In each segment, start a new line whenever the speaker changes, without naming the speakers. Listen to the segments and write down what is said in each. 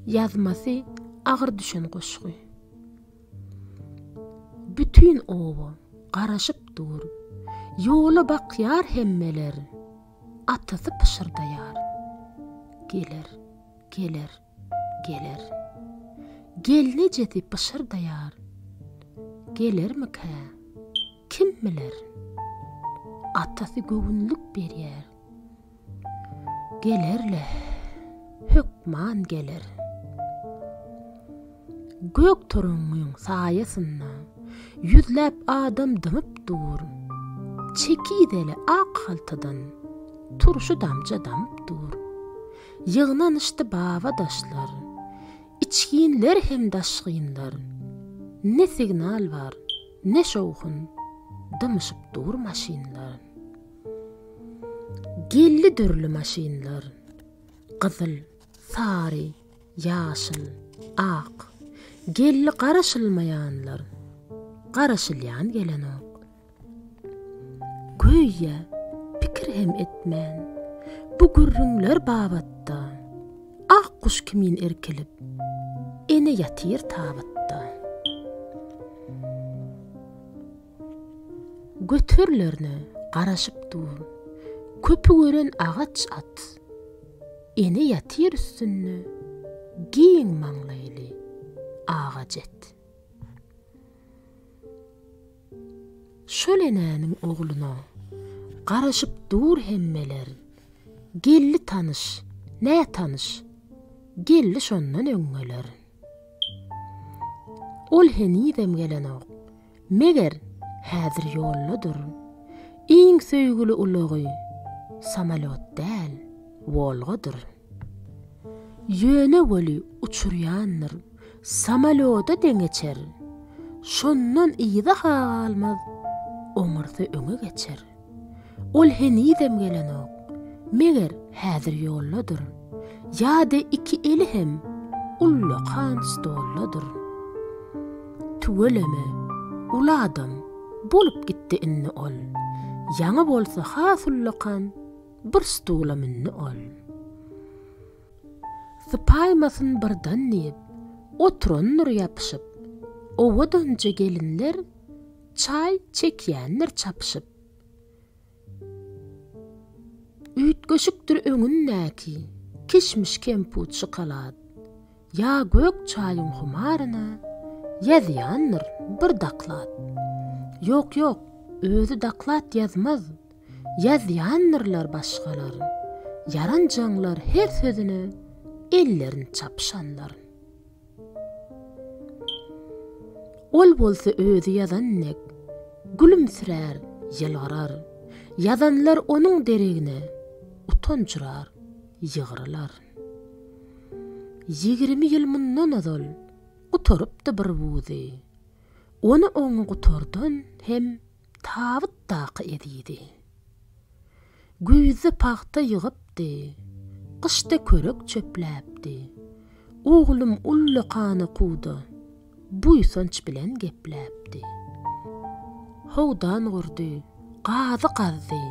Ýazmasy agyr düşen goşgy. Bütin oba garaşyp dur. Ýola bakýar hemmeler. Atasy pyşyrdaýar. Geler, geler, geler. Gelnejesi pyşyrdaýar. Gelermikä? Kim biler? Atasy göwünlik berýär. Geler-le, hökman geler. Gök turuňňyň saýasynda ýüzläp adam dymyp dur. Çekizeli ak haltadan turşy damja damyp dur. Ýygnanyşdy baba-daşlar, içginler hem daşgynlar. Ne signal bar, ne şowhun, dymyşyp dur maşynlar. Geldi dürli maşynlar. Gyzyl, sary, ýaşyl, ak. Geldi garaşylmaýanlar. Garaşylýan gelenok. Göýä, pikir hem etmän, bu gürrüňler babatda Ak guş kimin irkilip, ene ýatyr tabytda. Göterlerine garaşyp dur. Köpi gören agaç at. Ene ýatyr üstünde giň maňlaýly agaç et. Şol enäniň ogluna garaşyp dur hemmeler. Geldi tanyş, nätanyş, geldi şondan öňňeler. Ol henizem gelenok. Meger, häzir ýoldadyr. Iň söýgüli ulagy, samolýot däl, Wolgadyr. Ýöne weli uçurýandyr, samolýoda deňeçer. Şondan yza-ha galmaz, oňarsa öňe geçer. Ol henizem gelenok. Meger, häzir ýoldadyr. Ýa-da iki eli hem ullakan stoldadyr. Tüweleme, uly adam bolup gitdi indi ol. Ýaňy bolsa has ullakan bir stula mündi ol. Sypaýmasyn birden diýip, oturandyr ýapyşyp. Owadanja gelinler Çaý çekýändir çapyşyp. Üýtgeşikdir öňündäki kişmiş kemput şokolad. Ýa gök çaýyň humaryna ýazýandyr bir daklad. Ýok ýok özi daklad ýazmaz ýazýandyrlar başgalar. Ýaranjaňlar her sözüne ellerin çapyşanlar. Ol bolsa özi ýazan dek, gülümsirär, ýylgyrar. Ýazanlar onuň deregine utanjyrar, ýygrylar. Ýigrimi ýyl mundan ozal gutarypdy bir wuzy. Ony oňňa gutardan hem Tabytdaky ezizi. Güýzde pagta ýygypdy. Gyşda körek çöpläpdi. Oglum ullukana kuwda. Buýsanç bilen gepläpdi. Howdan gurdy. Gazy gazdy.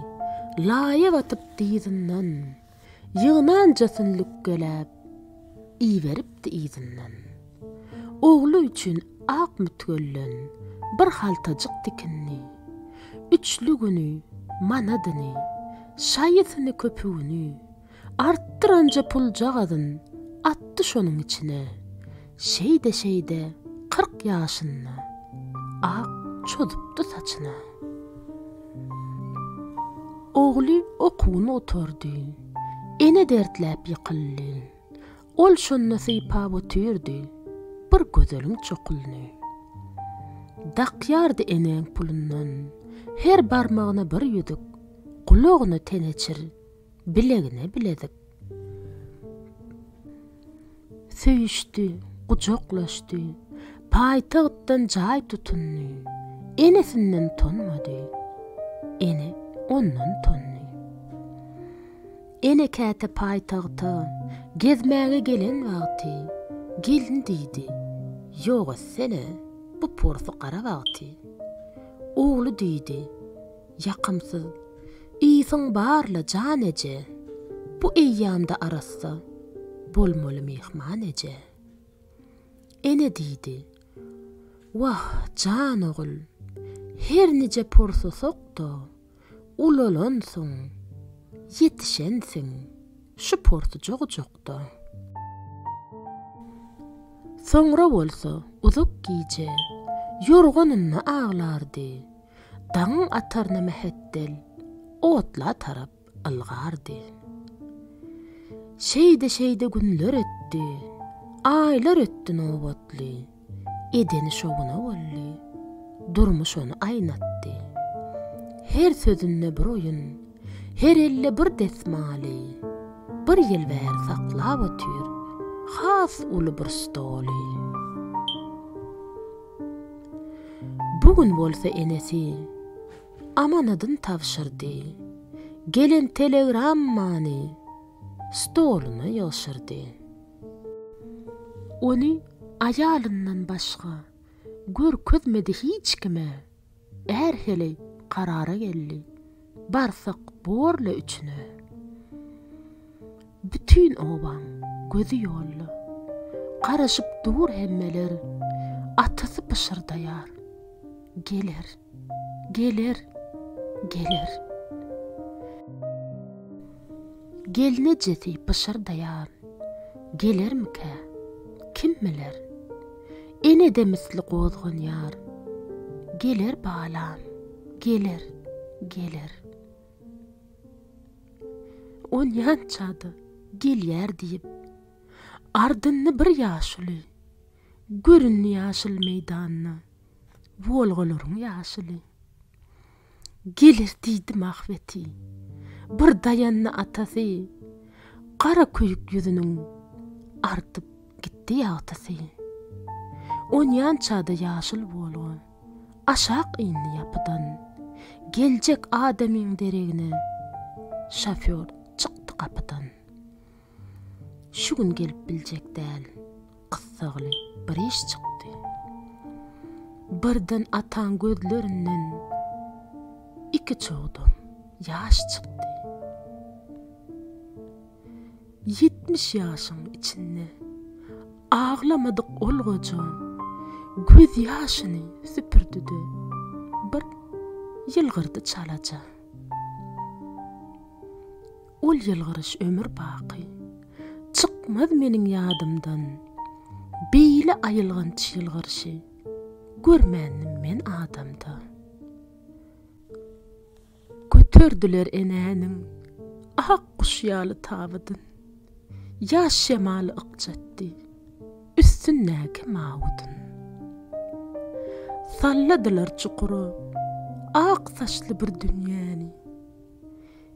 Laýa batyp dyzyndan. Ýygnanja sünnükgeläp, iberipdi yzyndan. Ogly üçin ak mütgellen bir haltajyk tikindi. Üçlügini, manadyny, şaýysyny köpügini artdyranja puljagazyn atdy şonuň içine. Şeýde-şeýde kyrk ýaşynda. Ak çozupdy saçyna. Ogly okuwyny gutardy. Ene dertläp ýykyldy. Ol şonda sypap otyrdy. Bir gözeliň çokulyny. Dakýardy enäň pulundan. Her barmagyna bir ýüzük. Gulagyna teneçir. bilegine bilezik. Söýüşdi, gujaklaşdy, paýtagtdan jaý tutundy, enesinden tonmady. Ene ondan tondy. Ene käte paýtagta gezmäge gelen wagty gelin diýdi, Ýok etsene, bu porsy gara wagty. Ogly diýdi, Ýakymsyz. Ysyň bar-la, jan eje. Bu eýýamda arassa. Bolmaly myhman eje. Ene diýdi. Wah, jan ogul. Her nije porsusak-da, ulalansyň. Ýetişensiň. Şu porsuja gujakda. Soňra bolsa, uzak gije. Ýorganynda aglardy. Dagyň ataryna mähetdel otla tarap ylgardy. Şeýde-şeýde günler ötdi, aýlar ötdi nobatly. Edeni şowuna boldy. Durmuş ony aýnatdy. Her sözünde bir oýun, her elde bir desmaly. Bir ýyl bäri saklap otyr has uly bir stoly. Bu gün bolsa enesi amanadyn tabşyrdy, gelen telegrammany stoluna ýygşyrdy. Ony aýalyndan başga görkezmedi hiç kime. Är heleý karara geldi, Barsak bor-le üçüne. Bütin obaň gözi ýolda, Garaşyp dur hemmeler, Atasy pyşyrdaýar, Geler, geler, geler. Gelnejesi pyşyrdaýar, Gelermikä, kim biler? Enede misli gozganýar. Geler balam, geler, geler. Onýança-da gelýär diýip, ardynda bir ýaşuly göründi ýaşyl meýdanda, Wolgalaryň ýaşuly. Geler diýdim ahbeti. Bir daýandy atasy, Gara köýük ýüzüniň artyp gitdi ýagtysy. Onýança-da ýaşyl Wolga aşak indi ýapydan, Geljek adamyň deregine şofýor çykdy gapydan. Şu gün gelip biljek däl. Gyssagly bir iş çykdy. Birden ataň gözlerinden iki çogdam ýaş çykdy. Ýetmiş ýaşyň içinde aglamadyk ol goja gözýaşyny süpürdi-de, bir ýylgyrdy çalaja. Ol ýylgyryş ömür baky. Çykmaz meniň ýadymdan. Beýle aýylganç ýylgyryşy. Görmändim men adamda. Göterdiler enäniň. Ak guş ýaly tabydyn. Ýaş şemaly ykjatdy. Üstündäki mawudyn. Salladylar çukura. Ak saçly bir dünýäni.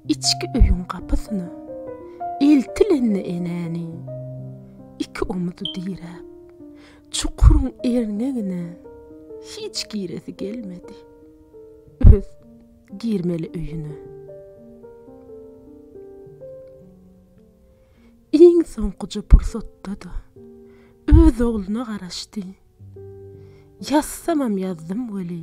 Içki öýüň gapysyna eltilende enäniň iki omuz diräp, çukuryň erňegine hiç giresi gelmedi. Öz girmeli öýüne. Iň soňkuja pursatda-da öz ogluna garaşdy. Ýazsamam ýazdym weli,